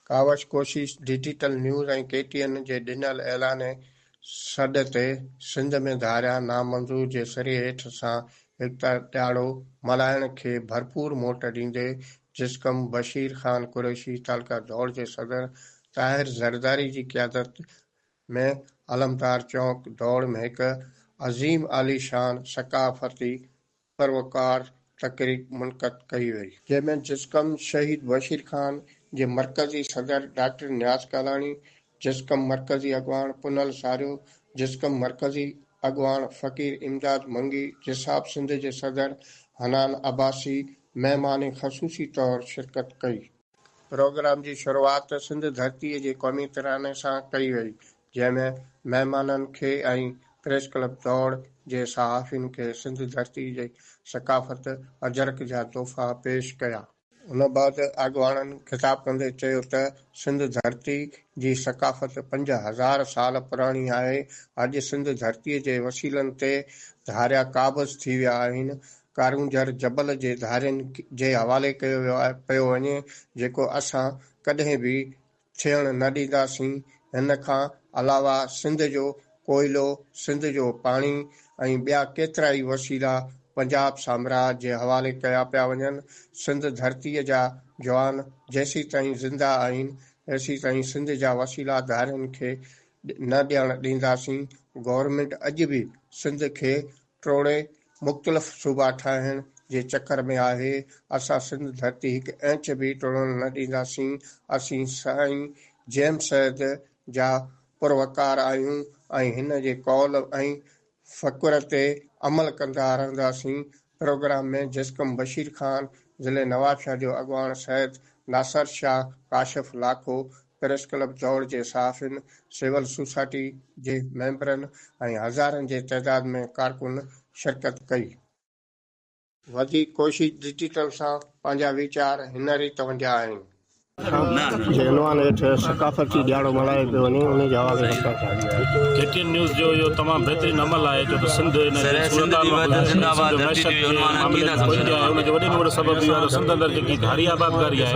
ڪاوش ڪوشش digital news ۽ K T N جي ڏنل اعلان سڏ تي سنڌ ۾ ڌاريا نامنظور جي سري هيٺ سان ايڪتا ڏهاڙو ملهائڻ کي ڀرپور موٽ ڏيندي جسقم بشير خان قريشي تعلقه ڌوڙ جي صدر طاهر زرداري جي قيادت ۾ علمدار چونڪ ڌوڙ ۾ هڪ عظيم عاليشان ثقافتي سروڪار تقريب منعقد ڪئي وئي. جنهن ۾ جسقم شهيد بشير خان جي مرڪزي صدر ڊاڪٽر نياز ڪالاڻي، جسقم مرڪزي اڳواڻ پنهل ساريو، جسقم مرڪزي اڳواڻ فقير امداد منگي، جساب سنڌ جي صدر حنان عباسي مهمان خصوصي طور شرڪت ڪئي. پروگرام جي شروعات سنڌ ڌرتي جي قومي تراني سان ڪئي وئي، جنهن ۾ مهمانن کي ۽ پريس ڪلب دوڙ جي صحافين کي سنڌ ڌرتي جي ثقافت اجرڪ جا تحفا پيش ڪيا. ان بعد اڳواڻن خطاب ڪندي چيو ته سنڌ ڌرتي جي ثقافت پنج هزار سال پراڻي آهي، اڄ سنڌ ڌرتي جي وسيلن تي ڌاريا قابض ٿي ويا آهن، ڪارونجهر جبل جي ڌارين جي حوالي ڪيو ويو آهي پيو وڃي جيڪو اسان ڪڏهن به ٿيڻ نه ڏينداسين هن کان علاوه سنڌ جو ڪوئلو سنڌ جو پاڻي ۽ ٻيا ڪيترائي وسيلا پنجاب سامراج جي حوالي ڪيا پيا وڃن سنڌ ڌرتي جا جوان جيسيتائين زنده آهن تيسيتائين سنڌ جا وسيلا ڌارين کي نه ڏيڻ ڏينداسين گورنمينٽ اڄ به سنڌ کي ٽوڙي مختلف صوبا ٺاهڻ جي چڪر ۾ آهي، اسان سنڌ ڌرتي هڪ انچ به ٽڙڻ نه ڏينداسين، اسين سائين جيم سيد جا پروقار آهيون ۽ هن جي قول ۽ فڪر تي عمل ڪندا رهنداسين، پروگرام ۾ جسقم بشير خان، ضلعي نوابشاهه جو اڳواڻ سيد ناصر شاهه ڪاشف لاکو، پريس ڪلب چوڙ جي صحافين، سول سوسائٽي جي ميمبرن ۽ هزارن جي تعداد ۾ ڪارڪن شرڪت ڪئي. وڌيڪ ڪوشش ڊجيٽل سان پنهنجا ويچار هن ريت ونڊيا آهن. جي عنوان هيٺ ثقافتي ڏيهاڙو ملهايو پيو وڃي انهي جي حوالي سان ڪا ڪهاڻي آهي. ڪي ٽي اين نيوز جو اهو تمام بهترين عمل آهي ڇو ته سنڌ ان جي صورتحال مان ٻڌائي ٿي. سنڌ معيشت جي معاملي ۾ پوئتي آهي ان جو وڏي ۾ وڏو سبب اهو آهي ته سنڌ اندر جيڪي ڌاري آبادگاري آهي،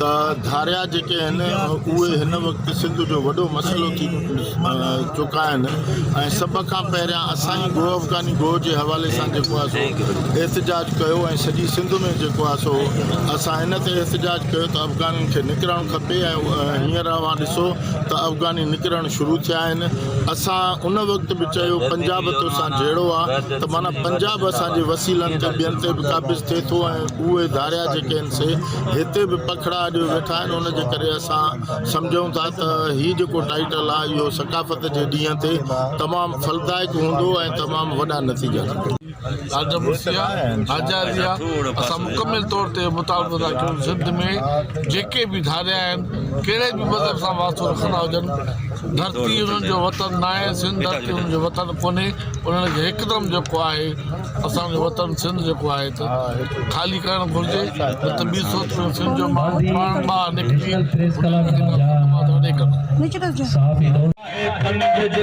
ته ڌاريا جيڪي آهن اهي هن وقت سنڌ جو وڏو مسئلو ٿي چڪا آهن ۽ سڀ کان پهريان اسان ئي گوهه افغاني گوهه جي حوالي سان جيڪو آهي سو احتجاج ڪيو ۽ سڄي سنڌ ۾ جيڪو آهي سو اسان ان تي احتجاج ڪيو ته افغانين کي نڪرڻ کپي ۽ هينئر اوهان ڏسو ته افغاني نڪرڻ شروع ٿيا آهن اسان ان وقت به چيو پنجاب توسان جهيڙو آهي ته معنيٰ پنجاب اسان جي وسيلن تي ٻين تي به قابض ٿئي ٿو ۽ اهي ڌاريا جيڪي آهن سي هتي به پکڙا اڏيو ويٺا آهن ان جي ڪري اسان سمجهون ٿا ته هي جيڪو ٽائيٽل آهي اهو ثقافت جي ڏينهن تي تمام ڦلدائڪ هوندو ۽ تمام وڏا نتيجا ڪندو. راجا مرسيا راجا ريا اسان مڪمل طور تي مطالبو ٿا ڪيون سنڌ ۾ جيڪي به ڌاريا آهن ڪهڙي به مذهب سان واسطو رکندا هجن ڌرتي انهن جو وطن ناهي سنڌ ڌرتي انهن جو وطن ڪونهي انهن کي هڪدم جيڪو آهي اسان جو وطن سنڌ جيڪو آهي ته خالي ڪرڻ گهرجي نه ته ٻي صورت ۾ سنڌ جو ماڻهو پاڻ ٻاهر نڪري ان جي